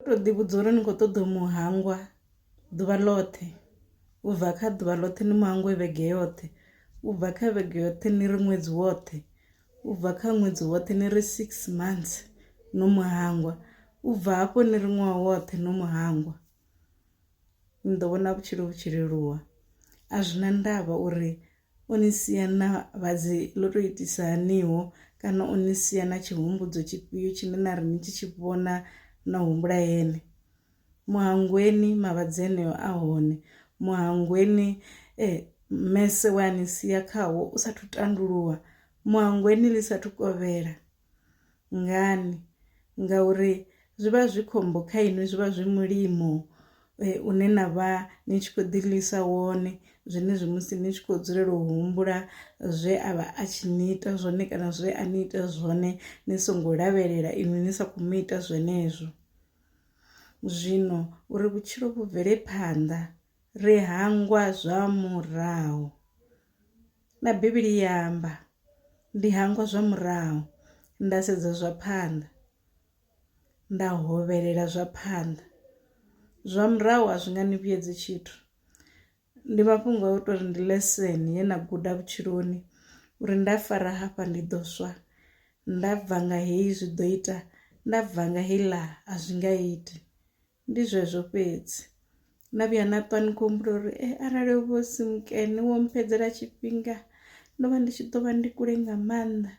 to ḓi vhudza uri ni kho ṱoḓa u mu hangwa ḓuvha ḽoṱhe u bva kha ḓuvha ḽoṱhe ni mu hangwe vhege yoṱhe u bva kha vhege yoṱhe ni ri ṅwedzi woṱhe u bva kha ṅwedzi woṱhe ni ri six months no mu hangwa u bva hafho ni ri ṅwaha woṱhe no mu hangwa ni ḓo vhona vhutshilo vhu tshi leluwa a zwi na ndavha uri U ni sia na vhadzi ḽo tou itisa haniho? Kana u ni sia na tshihumbudzo tshifhio tshine na ri ni tshi tshi vhona na humbula ene? Mu hangweni mavhadzi eneo a hone. Mu hangweni e mmese we a ni sia khawo u sa athu tandululwa. Mu hangweni ḽi sa athu kovhela. ngani ngauri zwi vha zwi khombo kha inwi zwi vha zwi mulimo une na vha ni tshi kho ḓi ḽiisa wone zwenezwi musi ni tshi kho dzulela u humbula zwe a vha a tshi ni ita zwone kana zwe a ni ita zwone ni songo lavhelela inwi ni sa kho mu ita zwenezwo. Zwino uri vhutshilo vhu bvele phanḓa ri hangwa zwa murahu. Na Bivhili i amba, Ndi hangwa zwa murahu, nda sedza zwa phanḓa, nda hovhelela zwa phanḓa. Zwa murahu a zwi nga ni vhuyedzi tshithu. Ndi mafhungo a u tou ri ndi leseni ye na guda vhutshiloni uri nda fara hafha ndi ḓo swa, nda bva nga heyi zwi ḓo ita, nda bva nga heiḽa a zwi nga iti. Ndi zwezwo fhedzi. Na vhuya na ṱwa ni khou humbula uri eh arali ho vha hu si mukene wo mpfhedzela tshifhinga ndo vha ndi tshi ḓo vha ndi kule nga maanḓa,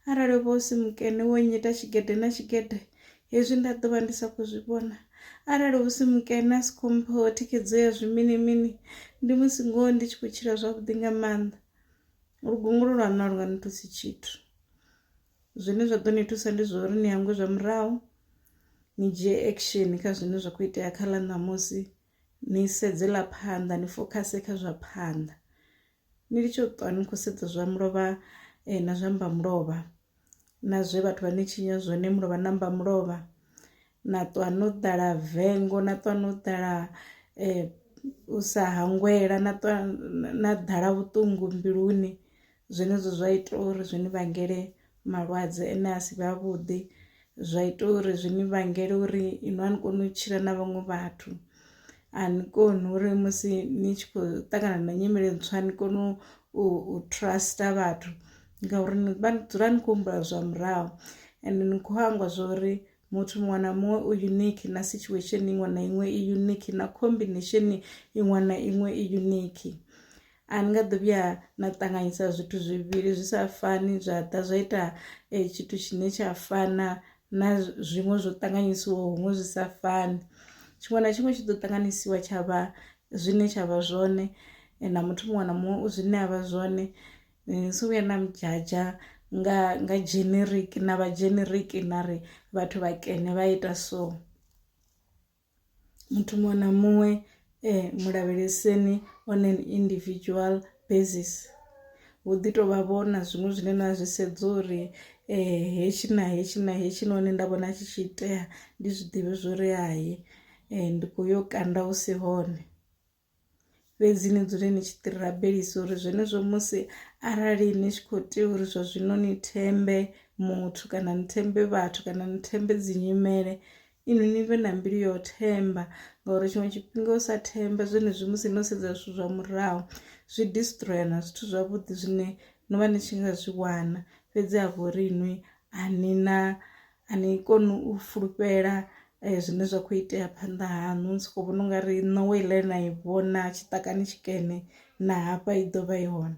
arali ho vha hu si mukene wo nnyita tshigede na tshigede hezwi nda ḓo vha ndi sa khou zwi vhona, arali hu si mukene a si khou mpha vho thikhedzo ya zwi mini mini ndi musi ngoho ndi tshi khou tshila zwavhuḓi nga maanḓa. Lugungulo lwaṋu a lu nga ni thusi tshithu. Zwine zwa ḓo ni thusa ndi zwa uri ni hangwe zwa murahu ni dzhie action kha zwine zwa kho itea kha ḽa ṋamusi ni sedze ḽa phanḓa ni fokhase kha zwa phanḓa ni litsho ṱwa ni khou sedza zwa mulovha na zwa mbamulovha na zwe vhathu vha ni tshinya zwone mulovha na mbamulovha na ṱwa no ḓala vengo na ṱwa no ḓala u sa hangwela na ṱwa na ḓala vhuṱungu mbiluni zwenezwo zwa ita uri zwi ni vhangele malwadze ane a si vhe a vhuḓi zwa ita uri zwi ni vhangele uri inwi a ni koni u tshila na vhaṅwe vhathu a ni koni uri musi ni tshi khou ṱangana na nyimele ntswa ni kone u trust vhathu ngauri ni vha ni dzula ni kho humbula zwa murahu ende ni kho hangwa zwori. muthu muṅwe na muṅwe u unique na situation iṅwe na iṅwe i unique na combination iṅwe na iṅwe i unique a ni nga ḓo vhuya na ṱanganyisa zwithu zwivhili zwi sa fani zwa ḓa zwa ita eh, tshithu tshine tsha fana na zwiṅwe zwo ṱanganyisiwaho huṅwe zwi sa fani tshiṅwe na tshiṅwe tshi ḓo ṱanganyisiwa tsha vha zwine tsha vha zwone eh, na muthu muṅwe na muṅwe u zwine a vha zwone Ni si vhuye na mudzhadzha nga nga generic na vha generic na ri vhathu vha kene vha ita so muthu muṅwe na muṅwe mulavheleseni on an individual basis hu ḓi tovha vho na zwiṅwe zwine na zwi sedza uri hetshi na hetshi na hetshi na hone nda vhona tshi tshi itea ndi zwiḓivhi zwori hayi ndi kho yo kanda hu si hone. fhedzi ni dzule ni tshi ḓirabelisa uri zwenezwo musi arali ni tshi khou tea uri zwa zwino ni thembe muthu kana ni thembe vhathu kana ni thembe dzi nyimele inwi ni vhe na mbilu yo themba ngauri tshiṅwe tshifhinga u sa themba zwenezwi musi no sedza zwithu zwa murahu zwi distroya na zwithu zwavhuḓi zwine no vha ni tshi nga zwi wana fhedzi ha vho ri inwi a ni na a ni koni u fulufhela zwine zwa kho itea phanḓa haṋu ni soko vhona ungari ṋowa heiḽa na i vhona tshiṱakani tshikene na hafha i ḓovha i hone .